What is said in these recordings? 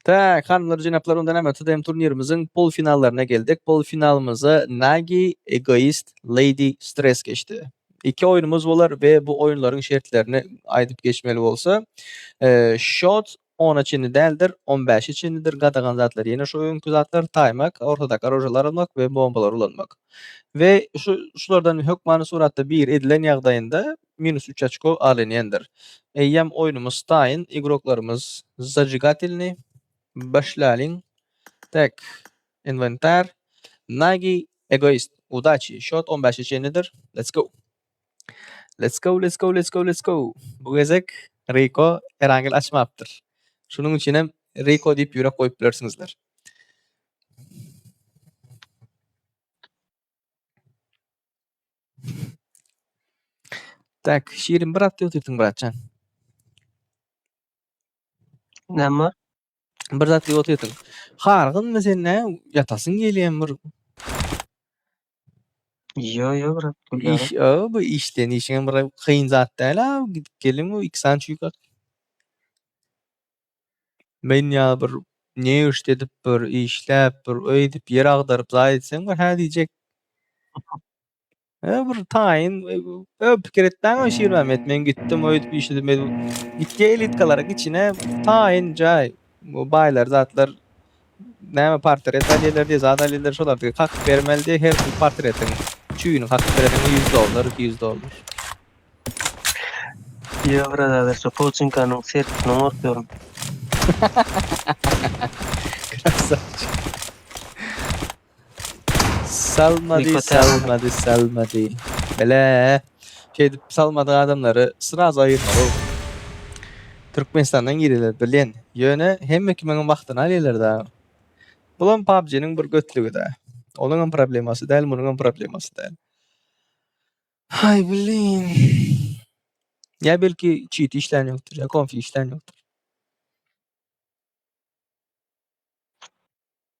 Tak, hanymlar, jenaplar, onda näme, TDM turnirimiziň polufinallaryna geldik. Polufinalymyzda Nagi, Egoist, Lady, Stress geçdi. Iki oýnumyz bolar we bu oýunlaryň şertlerini aýdyp geçmeli bolsa, şot ona çenli däldir, on bäşe çenlidir, gadagan zatlar ýene şu öňki zatlar, taýmak, ortadaky orožalary almak we bombalary ulanmak. We şu şulardan hökmany suratda biri edilen ýagdaýynda Minus üç oçko alinýendir. Eýýäm oýnumyz taýyn, igroklarymyz zajigatelnyý. Başlalyň. Tak. Inwentar. Nagi. Egoist. Udaçi. Şot on bäşe çenlidir. Let's go. Let's go, let's go, let's go, let's go. Bu gezek Riko Erangel açmapdyr. Şunuň üçin hem Riko diýip ýürek goýup bilersiňizler. Tak, şirin brat götürsin bratjan. Näme bar? Bir zat diýip otyrsyň. Hargynmy sen nä? Ýatasyň gelýän bir. Ýo, ýo, brat, gülýär. Iş, o, bu işden işiň bir kyn zat däl ha. Gidip gelin bu iki san çüýkak. Men ýa bir ne işde edip bir işläp bir öýdüp ýer agdaryp zaý etseň bir hä diýjek. He bir taýyn ö pikir etmäň o şir Mehmet men gitdim öýdüp işledim men gitdi elitkalara içine taýyn jaý bu baýlar zatlar näme portret alýarlar diýe zat alýarlar şolar diýe kakyp bermeli diýe her bir portretiň çüýüni kakyp berediň 100 dollar 200 dollar. Ýok brother şu pouçinkanyň sertisinden gorkýaryn. Krasavçik. Salmady, Niko Tera. salmady, salmady. Bele. Şeýdip salmadyk adamlary sraz aýyrmaly. Türkmenistandan gireler bilen. Ýöne hemme kimiň wagtyny alýarlar da. Bulam PUBG-niň bir götlügi da. Onuň hem problemasy däl, munuň hem problemasy däl. Ay blin. Ya belki cheat işlän ýokdur, ya konfi işlän ýokdur.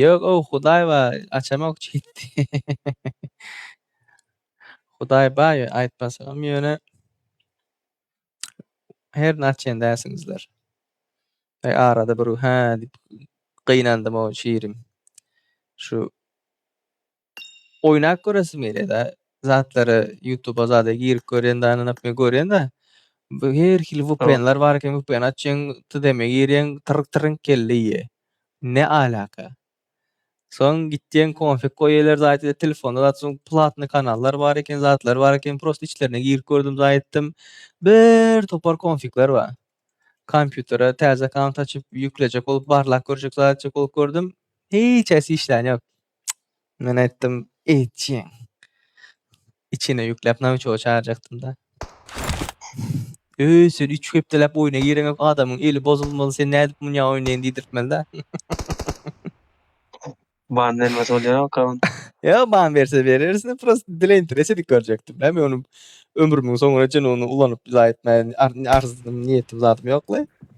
Ýok ow Hudaý bar açamok çitdi. Hudaý bar ýöne aýtmasagam ýöne herini açýan dälsiňizler. Eý arada bir hä diýip gynandym ow şirim. Şu Oýnap göresim gelýärda zatlara ýutuba zada girip görýän da ynanyp men görýän da bu her hili Tamam. vpnlar bar eken vpn açýaň tdm girýäň tyrk trynk kelle iýýä ne alaka soň gitýäň konfig goýýaler zaýtda telefonda zat soň platny kanallar bar eken zatlar bar eken prosta içlerine girip gördüm zaýtdym bir topar konfigler bar kompýutere täze akaunt açyp ýüklejek bolup barlap görjek zat etjek bolup gördüm hiç haýsy işlän ýok. Men aýtdym, eýtjiň. Içine ýükläp nawiçoga çagyrjakdym-da. Öý, sen üç hepdeläp oýna gireňok, adamyň eli bozulmaly, sen nädip munýa oýnaýyn diýdirtmeli-dä. Ban bermese bolýarok-a ony. Ýok, ban berse berersiň, prosta dileýintireç edip görjekdim-le. Men ony ömrümiň soňuna çenli ony ulanyp zaýa etmäge arzdym, niýetim zadym ýok-la.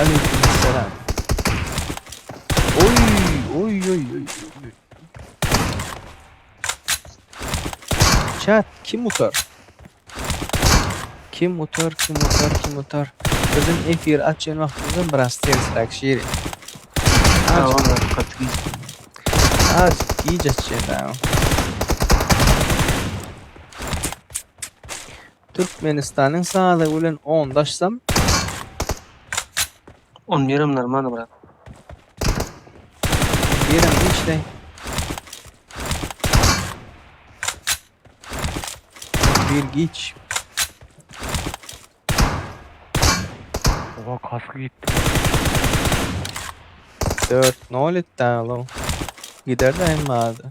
Aleýkumessalam. Oý, oý, oý, oý, oý, oý. Çat, kim utar? Kim utar, kim utar, kim utar? Biziň efir açýan wagtymyzdan biraz tersräk şiri. Az giç açýan. Türkmenistanyň sazygy bilen ondaşsam. On ýerim normalny brat. Ýerim işleý. Bir giç. Oha kask gitdi. 4 nol etdi alo. Gider daýym bardy.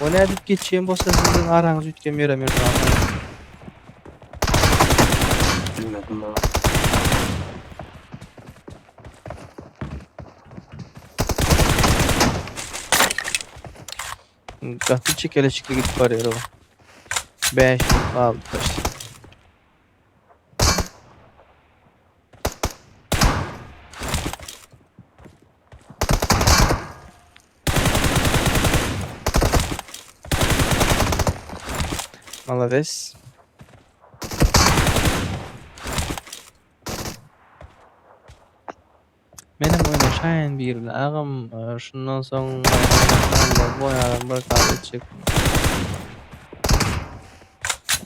O nädip geçýän bolsa siziň araňyz üýtgem ýere Mirzagam. Bilmedim baba. Gaty çekeleşikli gidip barýar o. 5 minut galdy. Malades. Menem oynaşaýyn bir gün agam. Ee, Şundan soň bu adam bir kal etjek.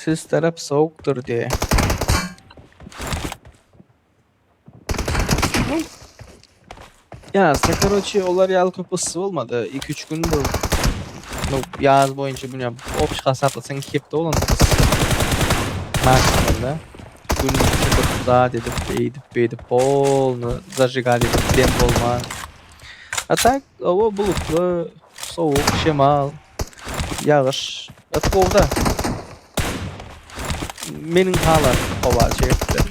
Siz tarap sowukdyr diýe. Ýazda karoçi olar ýaly köp yssy bolmady. 2-3 gün bu bu ýaz boýunça bu ýam opş hasaplasyn hepde bolan yssy. Maşgallah. Gün çykyp zat edip, eýdip, beýdip polny zajigali edip dem bolman. A tak howa bulutly, sowuk, şemal, ýagyş, ys gowy-da. Meniň halan howa şertleri.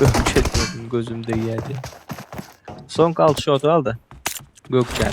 Gökçenin gözüm değerdi. Son kal şu otu al da. Gökçen.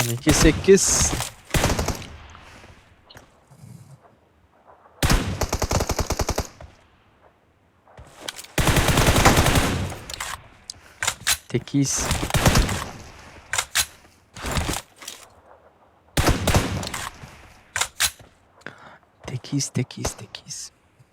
On iki sekiz. Tekiz. Tekiz, tekiz, tekiz.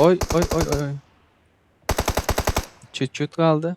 Oy oy oy oy oy. Çüt çüt kaldı.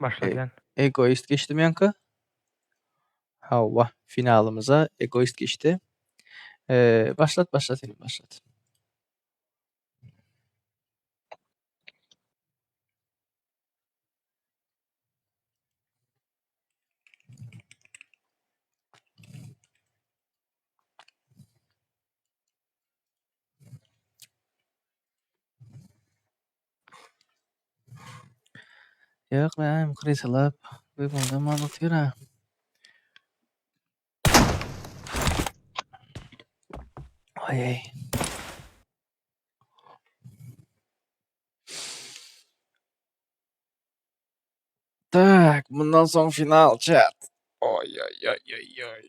E Başladýan. Egoist geçdimi ýaňky? Hawa, finalymyza Egoist geçdi. E, başlat, başlat, inim, başlat. Ýok näme krysalap öýüňde mal otyra. Aýaý. Tak, mundan soň final çäk. Oýoýoýoýoý.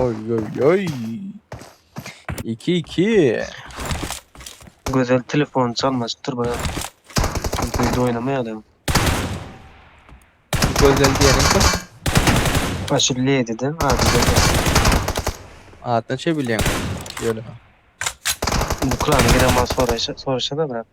Oy oy oy. 2-2. Gözel telefon çalmaşypdyr baýa. Biz oýnamaýar adam. Gözel diýerin kim? Aşy lediden ady gözel. Adyna çebilýän. Ýöne. Ukraina gelen mal soraşa soraşa da brat.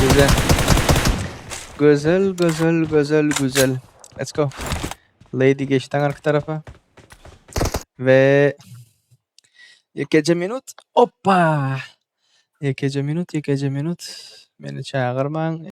Güzel. Güzel, güzel, güzel, güzel. Let's go. Lady geçti arka tarafa. Ve ikinci minut. Hoppa. İkinci minut, ikinci minut. Beni çağırman.